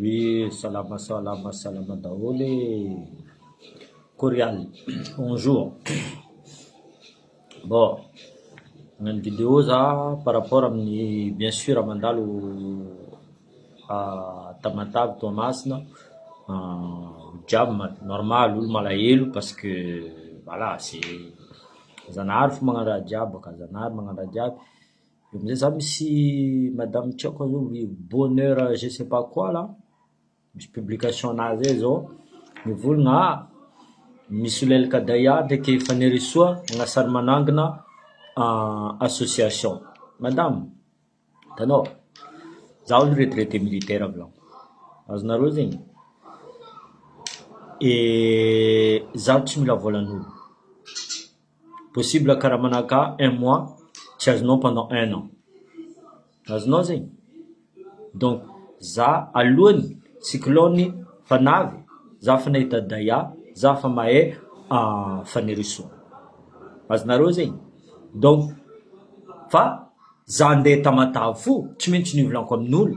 Oe salama salama salama daholo e! Corial bonjour bon nagnano video za par rapport amin'ny bien sur mandalo Tamatave Toamasina jam normal olo malahelo parce que voilà c'est Zanahary fo magnano raha jiaby ka, Zanahary magnano raha jiaby. Eo amizay za misy madame tsy aiko zao hoe bonheur je sais pas quoi là, misy publication anah zay zao, mivolagna ah misy solelaka Daia ndreky Fanirisoa agnasany manangina association, madame hitanao za aloha retraite militaire avy lahy, azonareo zegny, za tsy mila volan'olo. possible kara manahaka un mois tsy azonao pendant un an azonao zegny donc za alohany cyclone fanavy za efa nahita daya za efa mahay fanirisoa azonareo zegny donc fa za ndeha tamatave fo tsy maintsy nivolanko amin'olo.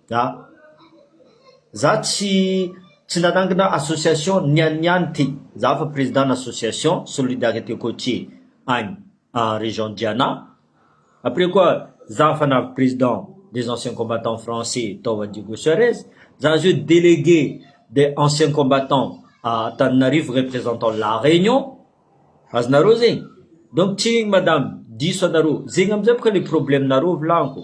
Za. Za tsy tsy nanangana association ny an'ny ihany ty. Za fa président na association solidarité côtier any région Diana. Après koa za fa navy président des anciens combattants français tao a Diego Suarez. Za zao délégué des anciens combattants à Antananarivo représentant la Réunion. Azonareo zegny? Donc tsigny madame, diso anareo. Zegny amizay boka le problème nareo volagniko.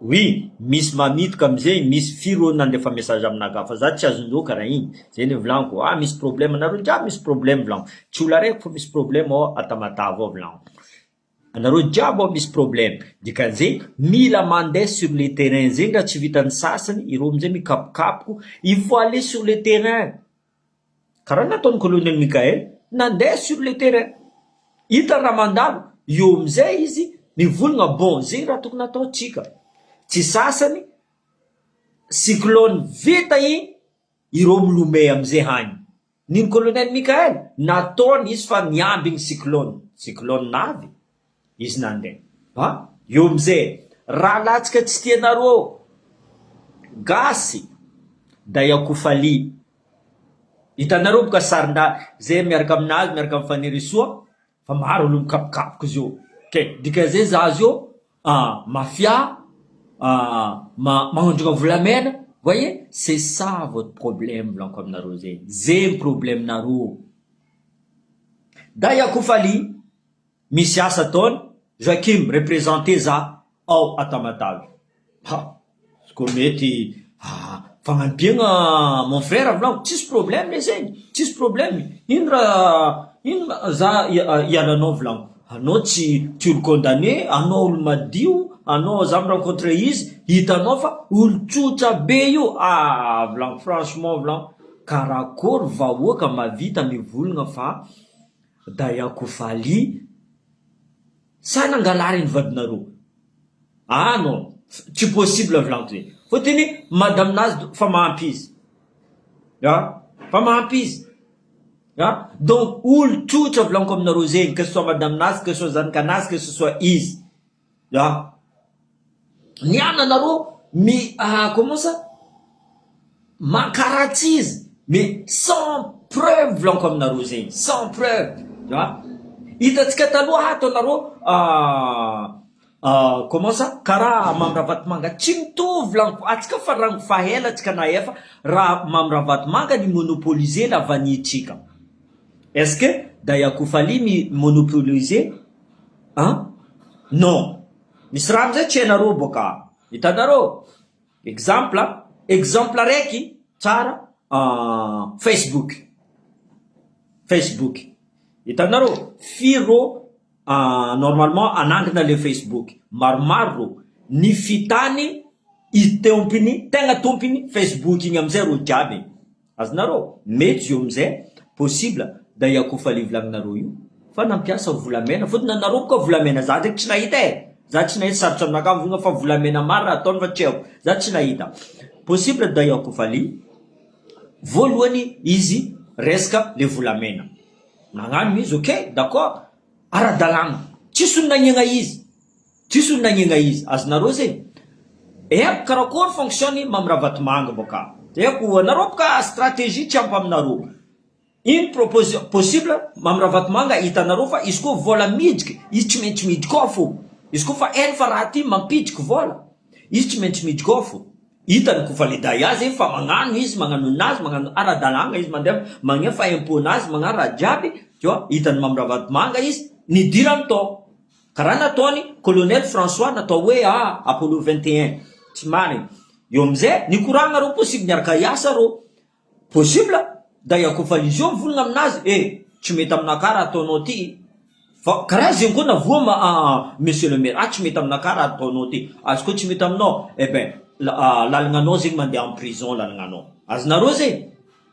Oui misy mamitoka amzegny misy firy olo nandefa message amina ka fa za tsy azondreo kara igny zay le volagno ah misy problème nareo jiaby misy problème volagno tsy olo araiky fô misy problème ao a Tamatave ao volagno anareo jiaby ao misy problème dikan'zegny mila mande sur le terrain zegny raha tsy vitan'ny sasany ireo amzay mikapokapoko il faut aller sur le terrain. Karaha nataon'i Colonel Michael nandeha sur le terrain. Hitany raha mandalo, eo amin'izay izy mivolagna bon ze raha tokony ataontsika. Tsy sasany cyclone vita iny ireo milomey amin'izay hany. Nino Colonel Michael nataony izy fa miambigny cyclone. Cyclone avy Izy nandeha. Ba, eo amzay e! Raha latsaka tsy tianareo gasy dai ako falia. Hitanareo moka sarindahy zay miaraka aminazy miaraka am Fanirisoa fa maro aloha mikapokapoka izy io ke dikanzay za azy io a mafia a ma magnondrogna volamena voyez c'est ça votre problème volako aminareo zay zay ny problème nareo dai ako falia. Misy asa ataony Joachim representer za ao à Tamatave. Ha! izy koa mety ah, fagnampiagna mon frère volagno, tsisy problème le zegny, tsisy problème, ino ra ino ra za hialanao volagno, anao tsy tsy olo condamné, anao olo madio, anao za mi rencontre izy hitanao fa olo tsotra be io ah, volagno franchement volagno, karakôry vahoaka mavita mivolagna fa. Dayako Vali sa nangalà reny vadinareo ah non tsy possible vlanto zay fa tena hoe madame nazy fa mahampy izy ah fa mahampy izy ah donc olo trotra vlanko aminareo zegny que ce soit madame nazy que ce soit zanaka nazy que ce soit izy Ya. Ny an anareo mi ah comment ça mankaratsy izy mais sans preuve volaniko aminareo zegny sans preuve ya hitantsika taloha ato anareo ah comment ça karaha Mamy Ravatomanga tsy mitovy volaniko atsika fa rango fa ela atsika nahefa raha Mamy Ravatomanga ni monopoliser la vanille tsika est ce que Dayakoufaly mi monopoliser An? Non. Misy rano zay tsy hainareo boka an! Hitanareo? Exemple an! Exemple araiky tsara an! Facebook. Facebook. Hitanareo? Firy rô an normalement hanangina le Facebook? Maromaro rô. Ny fitany i tompiny, tegna tompiny Facebook igny amizay rô jiaby e! Azonareo? Mety zio amzay possible da i akofa le volaninareo io fa nampiasa volamena fotony anareo moka volamena za ndreky tsy nahita e za tsy nahita sarotra aminakahy mivonga fa volamena maro raha ataony fa tsy aiko za tsy nahita possible da i akofa le voalohany izy resaka le volamena nagnano izy ok d'accord ara-dalana tsisy olo nagnegna izy Tsisy olona agnegna izy. Azonareo ze. Epp karakory fonction i Mamy Ravatomanga boka. Epp o anareo boka stratégie tsy ampy aminareo. Une proposition possible Mamy Ravatomanga hitanareo fa izy koa vola midriky izy tsy maintsy midriky ao fo. Izy koa fa eny fa raha ty mampidriky vola izy tsy maintsy midriky ao fo. Hitany ko fa le dahy azy eny fa magnano izy magnano ninazy magnano ara dalagna izy mandeha magnefa impôt nazy magnano raha jiaby tu vois hitany Mamy Ravatomanga izy nidirany tao. Karaha nataony colonel François natao hoe a Apollo 21 tsy marigny eo amizay nikoragna reo possible niaraka hiasa reo possible da hiakofan'izy eo mivolagna aminazy eh tsy mety amina ka raha ataonao ty fa karaha zegny koa navoa ma a monsieur le maire ah tsy mety amina ka raha ataonao ty azy koa tsy mety aminao eh ben lalagnanao zegny mandeha en prison lalagnanao azonareo zegny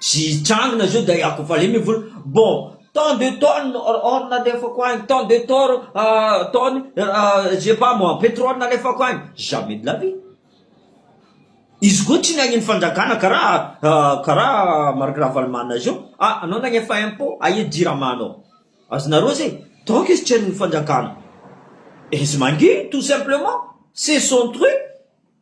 Tsy hitrangina izao dia hiako fale ny vola. Bon, tant de tonnes or nalefako agny, tant de tor tonnes je sais pas moi petrole nalefako agny. Jamais de la vie. Izy koa tsy niahian'ny fanjakana karaha karaha Marc Ravalomanana zao, ah anao nagnefa impot, aia jirama anao. Azonareo zay? Donc izy tsy hain'ny fanjakana. Izy mangihy tout simplement, c'est son truc.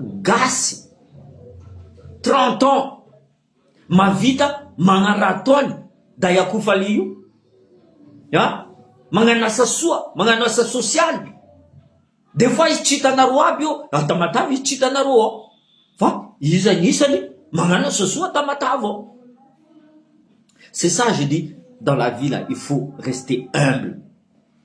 Gasy trente ans mavita magnaraha taony dahy akoho fale io a magnano asa soa magnano asa sosialy des fois izy tsy hitanareo aby eo raha Tamatave izy tsy hitanareo ao fa izy agnisany magnano asa soa Tamatave ao c'est ça je dis dans la vie là il faut rester humble.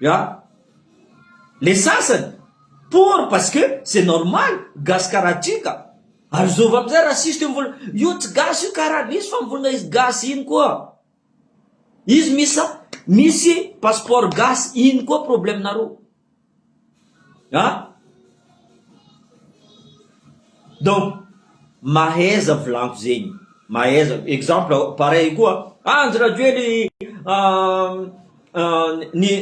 Ya. Le sasany pour parce que c'est normal gasy karaha ty ka. Ary zovy amizay raciste io mivol io tsy gasy io karaha misy fa mivolagna izy gasy iny koa. Izy misa misy passeport gasy iny koa problème nareo. A! Donc mahaiza volagno zegny, mahaiza exemple pareil koa ah Andry Rajoely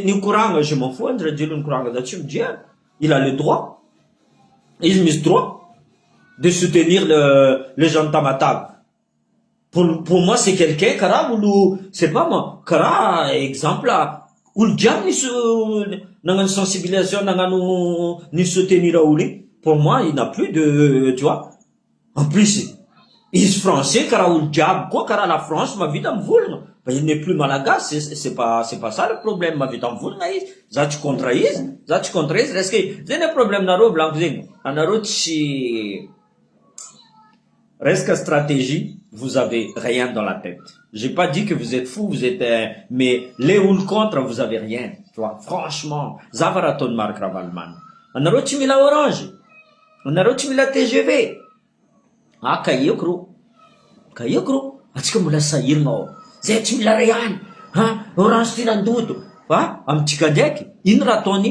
nikoragna, je m'en fous Andry Rajoely nikoragna za tsy midre azy, il a le droit, izy misy droit de soutenir les gens de Tamatave. Pour moi c'est quelqu'un karaha olo c'est pas moi karaha exemple olo jiaby nisy nagnano sensibilisation nagnano ni soutenir olo iny pour moi il n'a plus de tu vois en plus izy français karaha olo jiaby koa karaha la France mahavita mivolagna fa il n'est plus malagasy c'est pas c'est pas ça le problème mahavita mivolagna izy za tsy contre izy za tsy contre izy resaka zegny le problème nareo volaniko zegny anareo tsy Resaka stratégie vous avez rien dans la tête j'ai pas dit que vous êtes fou vous êtes mais le olo contre vous avez rien tu vois franchement za fa raha ataon'i Marc Ravalomanana anareo tsy mila orange anareo tsy mila tgv ah ka eko rô ka eko rô atsika mbola sahiragna ô zay tsy mila ray any ha orange filandoto fa amintsika ndraiky ino raha ataony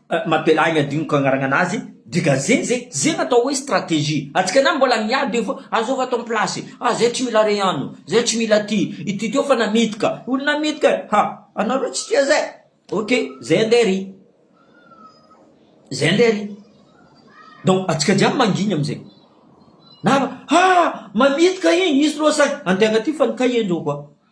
Mapela igny adinoko agnaragna nazy dika zegny ze zegny atao hoe stratégie antsika na mbola miady eo fô azôva ato ampilasy ah zay tsy mila re ano zay tsy mila ty ity tô fa namidy ka olo namidy ka ha anareo tsy tia zay ok zay ande ry zay ande ry donc antsika jiaby mangigny amizay na ha mamidy ka igny izy loha sahy antegna ty fa ny kahie ndreo koa.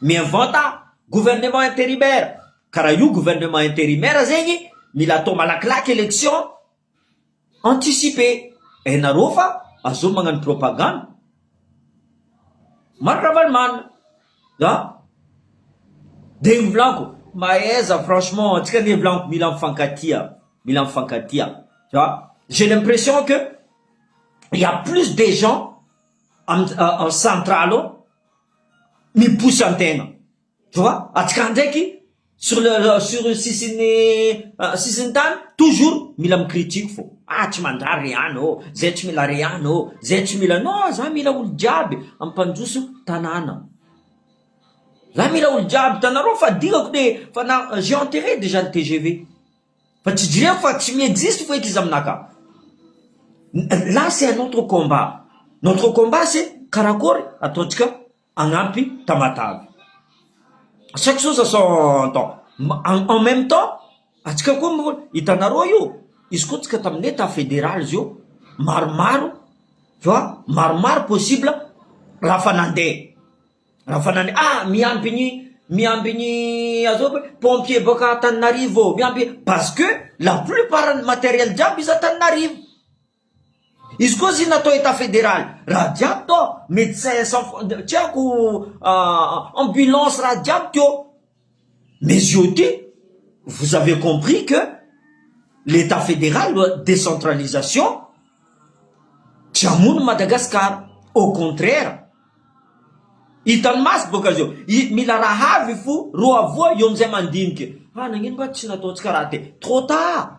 Mivanta gouvernement intérimaire ka raha io gouvernement intérimaire zegny mila atao malakilaky election anticipe hainareo fa azony magnano propagande Marc Ravalomanana an! de ny volako mahaiza franchement antsika anie volako mila mifankatia mila mifankatia fa j'ai l'impression que il ya plus des gens en centrale ao miposa ny tena tu vois antsika ndraiky sur le sur sisin'ny ah, sisin'ny tany toujours mila mikritiko fo ah tsy mandrary re any ô zay tsy mila re any ô zay tsy mila no za mila olo jiaby ampandroso tanàna za mila olo jiaby tanareo fa dingako de fa na j'ai enterré déjà le TGV Fa tsy dre fa tsy mi-existe foeky izy aminà ka. Là c'est un autre combat. Notre combat c'est karakôry ataontsika hagnampy Tamatave. Chaque chose a son temps. En même temps, antsika koa moa hitanareo io, izy koa antsika tamin'ny Etat fédéral izy io maromaro fa maromaro possible raha fa nandeha. Rafanany ah miamby ny miamby ny azoko hoe pompier boaka Antananarivo ô miamby parce que la plupart ny matériel jiaby izy Antananarivo izy koa zy natao état fédéral raha jiaby tao médecin sans tsy haiko ambulance raha jiaby teo Mizioty, vous avez compris que l'Etat Fédéral doit décentralisation, tsy hamono Madagascar, au contraire, hitan'ny maso boka zao, mila raha avy fo roa voa eo amizay mandinika, ah nagnino nga tsy nataontsika raha teo, trop tard.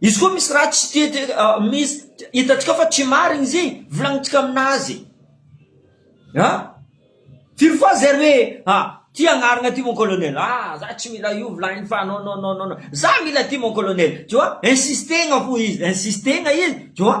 Izy koa misy raha tsy tia dia ah, misy hitantsika fa tsy marigny izy volagnintsika aminazy a ah, firy fois zay hoe ah, ty agnaragna ty mon colonel ah za tsy mila io volagniny fa non non non non za mila ty mon colonel tu vois insistegna fo izy insistegna izy tu vois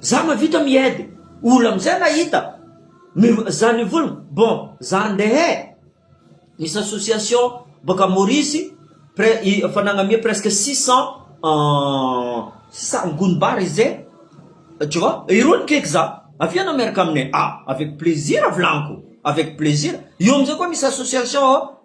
Za mavita miaidy olo amzay mahita mizany vola bon za ndeha e misy association boaka Maurice efa nagname presque six cent six cent gony bar izy zay tu vois irony kaiky za avy eo anao miaraka aminay ah avec plaisir volagniko avec plaisir eo amzay koa misy association.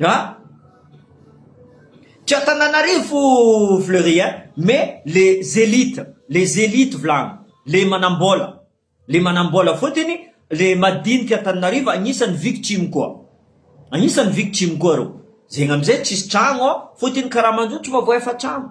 Hein? Tsy Antananarivo Fleury hein, mais les élites, les élites volagny, le manambola, le manambola fotiny, le madiniky Antananarivo agnisany victime koa, agnisany victime koa reo, zegny amizay tsisy tragno fotiny karamanjo tsy mba voaefa tragno.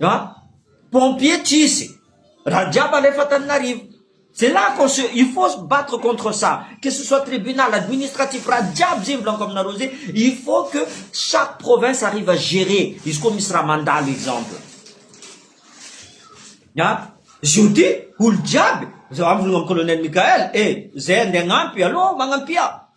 An! Pompier tsisy, raha jiaby alefa Antananarivo. C'est là qu'on se, il faut se battre contre ça, que ce soit tribunal, administratif, raha jiaby zay volako aminareo zay, il faut que chaque province arrive à gérer, izy koa misy raha mandalo exemple. An! Zio ty olo jiaby, zao amiko ny Colonel Mickaël, eh! Zay andeha agnampi, allo! Magnampia!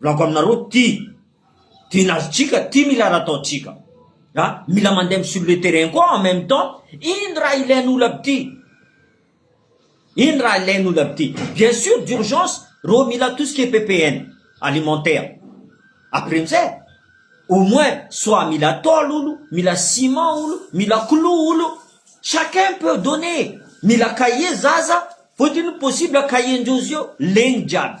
Volako aminareo ty tena azontsika ty mila raha ataontsika a mila mandeha sur le terrain koa en même temps ino raha ilain'olo aby ty ino raha ilain'olo aby ty bien sûr d'urgence reo mila tout ce qui est ppn alimentaire après amizay au moins soit mila tôle olo mila ciment olo mila clou olo chacun peut donner mila cahier zaza fôtiny possible cahier ndreo zio legny jiaby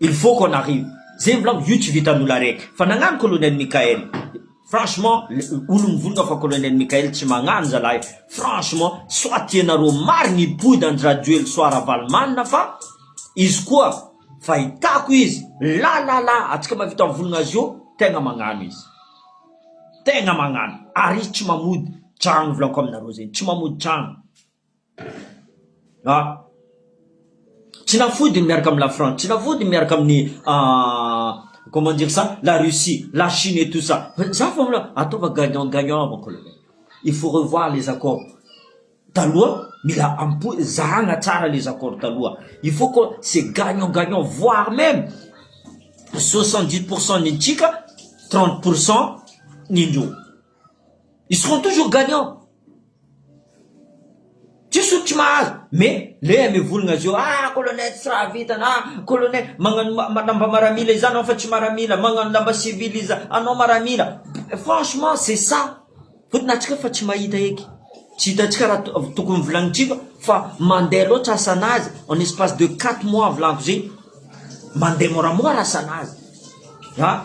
Il faut qu'on arrive Zay mbola aho io tsy vitan'olo araiky fa nagnano colonel Mickaël franchement olo mivonona fa colonel Mickaël tsy magnano zalahy franchement soit ianareo marigny i Pouy da Ndrajoely soit Ravalomanina fa izy koa fahitako izy la la la atsika mavita mivonogna azy io tegna magnano izy tegna magnano ary izy tsy mamody tragno volako aminareo zegny tsy mamody tragno Tsy nafody ny miaraka amin'i la France, tsy nafody ny miaraka amin'ny comment dire ça la Russie, la Chine et tout ça, za vao mila ataovy gagnant gagnant avako aloha, il faut revoir les accords taloha, mila ampoizina, zahana tsara les accords taloha, il faut que c'est gagnant gagnant voire même soixante dix pour cent ny antsika trente pour cent ny indreo. Ils seront toujours gagnants. Tsisy olo tsy mahazo, mais le amevologna azy eo, ah colonel tsy raha vitany, ah colonel magnano ma- lamba maramila iza anao fa tsy maramila, magnano lamba civil iza anao maramila, franchement c'est ça, fotony antsika efa tsy mahita eky, tsy hitantsika raha to- tokony volagnintsika fa mandeha loatra asanazy en espace de quatre mois avy lanto zegny, mandeha moramora asanazy, ah.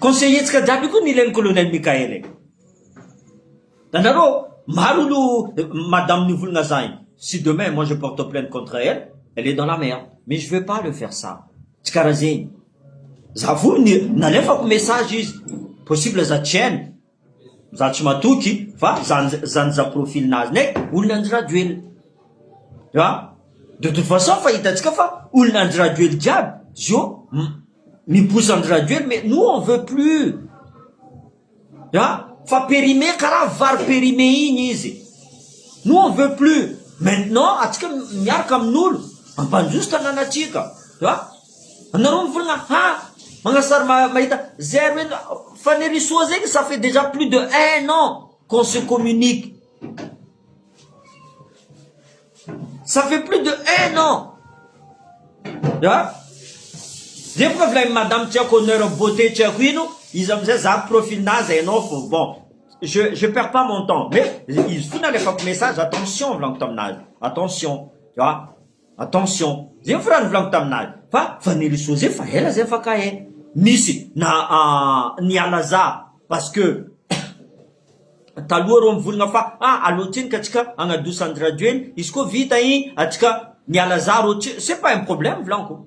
Conseiller-ntsika jiaby io koa nilay ny Colonel Mickaël e! Hitanareo, maro no madame nivolagna za io, si demain moi je porte plainte contre elle, elle est dans la merde, mais je veux pas le faire ça, tsy karaha zegny, za fony nalefako message izy, possible za tsy hainy, Za tsy matoky fa zany za profil nazy ne olona Andry Rajoelina ah de toute façon fa hitantsika fa olona Andry Rajoelina jiaby zio miposa Andry Rajoelina mais nous on veut plus ah fa périmé karaha vary périmé iny izy nous on veut plus maintenant atsika miaraka amin'olo ampanjoso tanàna atsika ah Anareo mivolagna hafa, magnasary mahita zay ary hoe Fanirisoa zegny ça fait déjà plus de un an qu'on se communique, ça fait plus de un an ya, zay bôka avy lahy madame tsy haiko honneur beauté tsy haiko ino, izy amizay za profilnah zay anao fô bon je je perds pas mon temps mais izy koa nalefako message attention volaniko taminazy attention ya. Attention, zay ny firaha novolagno taminay fa vanille soze fa ela zay afaka eh misy na niala za parce que taloha reo mivolagna fa ah allo tsiny ka tsika agnadosa andrajoely izy koa vita igny atsika miala za reo ce pas un problème volagniko.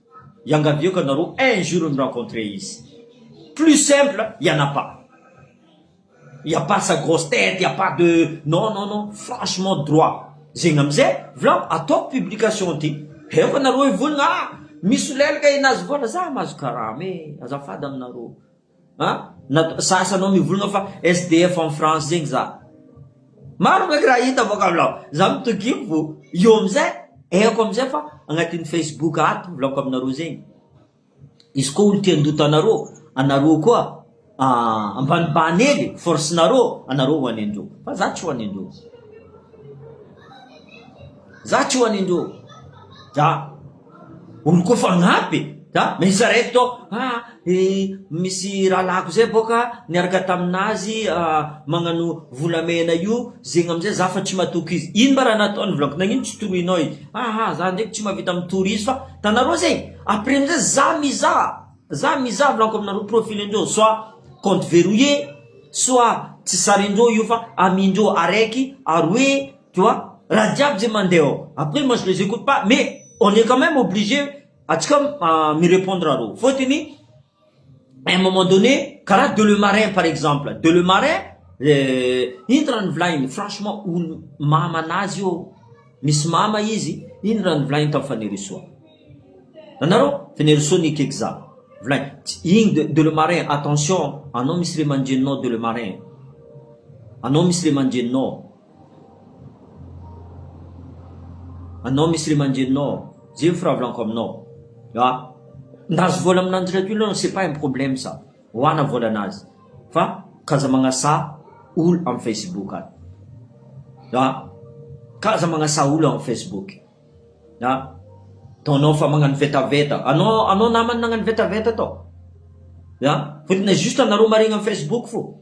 Iangaviako anareo un jour mi rencontrer izy. Plus simple il y en a pas. Il y a pas sa grosse tête, il y a pas de non non non franchement droit. Zegny amizay vlam ataoko publication ty. Heo anareo hivolagna ah misolelaka i Nazivona za mahazo karama e azafady aminareo. An! Natao sasa anao mivolagna fa SDF en France zegny za. Maro maika raha hita avy aminao. Za mitogimo vô eo amizay haiko amizay fa agnatin'ny Facebook ato volako aminareo zegny. Izy koa olo te handoto anareo, anareo koa ambanibany hely force nareo, anareo ho any andreo. Fa za tsy ho any andreo. Za tsy ho any andreo. Za. Olo koa fagnampy e! Za miisa raiky tô ha e misy rahalahiko zay bôka niaraka taminazy magnano volamena io zegny amizay za fa tsy matoky izy ino mba raha nataony volagniko nagnino tsy toroinao izy aa za ndreky tsy mavita mitory izy fa tanareo zay après amizay za mizaha za mizaha volagniko aminareo profilen-dreo soit compte verrouiller soit tsy sarin-dreo io fa amindreo araiky aroe tu vois raha jiaby zay mandeha ao après moi je les écoute pas mais on est quand même obligé atsika ah, mi répondre arô fôtony à un moment donné karaha de le marin par exemple de le marin eh, ino raha nivolagny franchement olo mama anazy io misy mama izy ino raha nivolagny tam fanirisoa nanareo fanirisoa ny kekza volagny Tsy- igny de, de le marin attention anao misy ray aman-dreninao de le marin anao misy ray aman-dreninao Anao misy ry aman-dreninao ao, zay ny firavolako aminao a! Ndazo vola aminanjy raha toy ianao c'est pas un problème ça, ho ana vola anazy fa ka aza magnasaha olo am facebook any a! ka aza magnasaha olo am facebook a! ataonao fa magnano vetaveta, anao anao namany nagnano vetaveta tao a! fotony juste anareo maregny am facebook fô.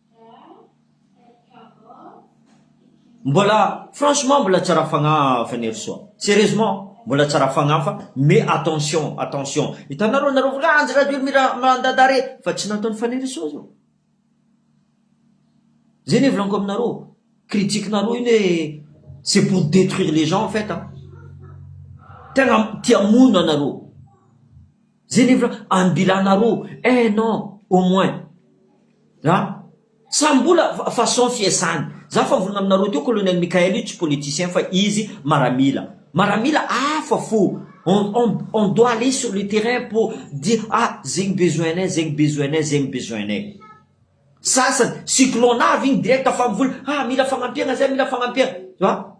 Mbola franchement mbola tsara fagnahy Fanirisoa serieusement mbola tsara fagnahy fa mais attention attention hitanareo nareo volanjy radio mira mandada re fa tsy nataony Fanirisoa zao zay ne volaniko aminareo critique nareo iny hoe c'est pour detruire les gens en fait an tegna tia hamono anareo. Zay nefa ambilana roa, un an au moins a! Sa mbola façon fiasany? Za fa volana aminareo teo Colonel Mickaël io tsy politicien fa izy maramila. Maramila hafa fo, on on on doit aller sur le terrain pour dire ah zegny besoin-nay, zegny besoin-nay, zegny besoin-nay. Sasany cyclone avy igny direct fa mivola ah mila fagnampiagna zay, mila fagnampiagna.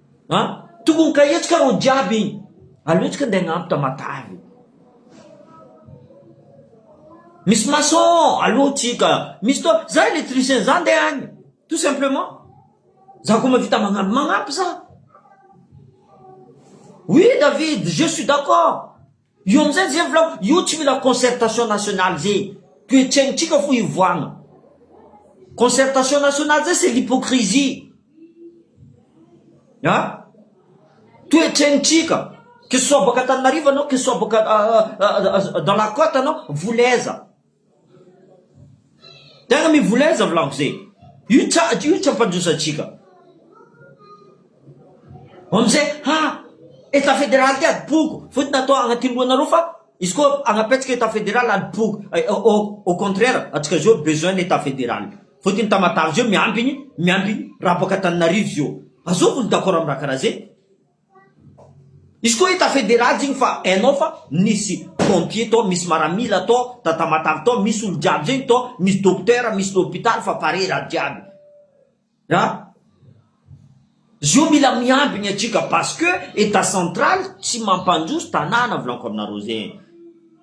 A! Tokony ka hetsika reo jiaby igny. Aleo tsika ndeha agnampo Tamatave e. Misy maçon alou tsika, misy to, za électricien za ndeha agny tout simplement. Za ko mahavita magnampo magnampy za. Oui David, je suis d'accord. Io amizay ze volako io tsy mila concertation nationale ze toetsaintsika fo hivoahana concertation nationale zay c'est l'hypocrisie a toetsaintsika que ce soit boaka Antananarivo anao que ce soit boaka dans la cote anao voulez aiza. Tena mivoleza vla mzee. Io tsady io tsy ampandrosatsika. Vao mzee ha Etat federal ty adim-poko fotony atao agnatin'ny lohanareo fa izy koa agnapetsika Etat federal adim-poko au contraire antsika zao besoin ny Etat federal fotony Tamatave zao miambigny miambigny raha boaka Antananarivo zao. Azoko ny d'accord amin'ny raha karaha ze. Izy koa hita federal igny fa hainao fa nisy pompier tao, misy maramila tao, tatamatavy tao, misy olo jiaby zegny tao, misy docteur, misy lopitaly fa pare raha jiaby. A! Zio mila miambigny atsika parce que etat central tsy mampandroso tanàna volanko aminareo zegny.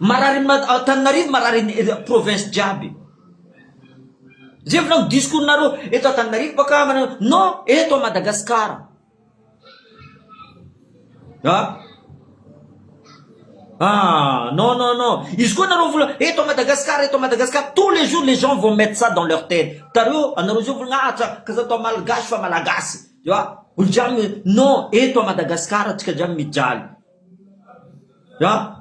Marary am Antananarivo marary ny province jiaby. Zay volagno discours nareo eto Antananarivo baka non eto Madagascar. Ah ah non non non izy koa nareo vola eto Madagascar eto Madagascar tous les jours les gens vont mettre ça dans leur tete. Tareo anareo zao volagna ah ka za atao malgache fa malagasy. Ewa olo jiaby non eto a Madagascar antsika jiaby mijaly a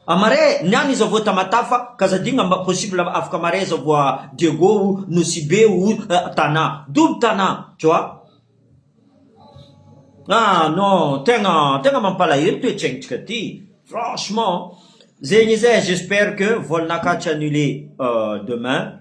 a mare ny any iza vo Tamatave ka za digna mba possible afaka mare za vo a Diego o Nosibe o Tana double Tana tu vois a non tegna tegna mampalahelo toetsaintsika ty franchement zegny eza j'espère que volanakaty annule demain.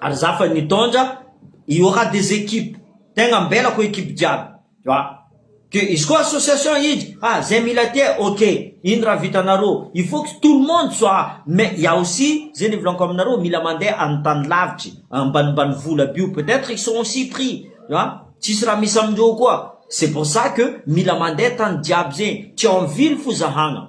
ary za fa nitondra il y aura des équipes tegna ambelako équipe jiaby tu vois que izy koa association hiditra ah zay mila aty eh ok ino raha vitanareo il faut que tout le monde soit mais il y a aussi zay nivolaniko aminareo mila mandeha any tany lavitry ambanimbany vola aby io peut être ils sont aussi pris tu vois tsisy raha misy amindreo koa c'est pour ça que mila mandeha tany jiaby zegny tsy ao am ville fo zahagna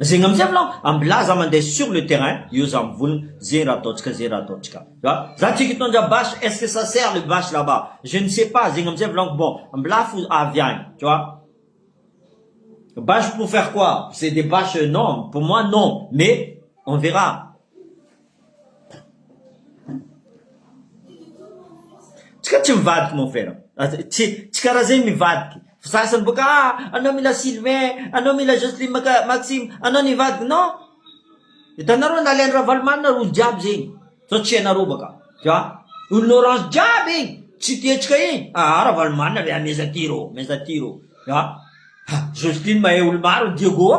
Zegny amizay malôha ambilà za mande sur le terrain eo za mivolagna ze raha ataontsika ze raha ataontsika za za tsy hitondra basy est-ce que ça sert le basy là-bas je ne sais pas zegny amizay volagniko bon ambilà fo avy agny tu vois basy pour faire quoi c'est des basy non pour moi non mais on verra. Tsika tsy mivadiky mon frère a! tsy tsy karaha zegny mivadiky fa sasany bôka a anao mila Sylvain, anao mila Jocelyne maka Maxime, anao nivadiky non hitanareo nalain'i Ravalomanana ry olo jiaby zegny zao tsy hainareo bôka a! olona orange jiaby igny tsy tiantsika igny aa Ravalomanana ve ameza ty rô ameza ty rô a! Jocelyne mahay olo maro Diego a!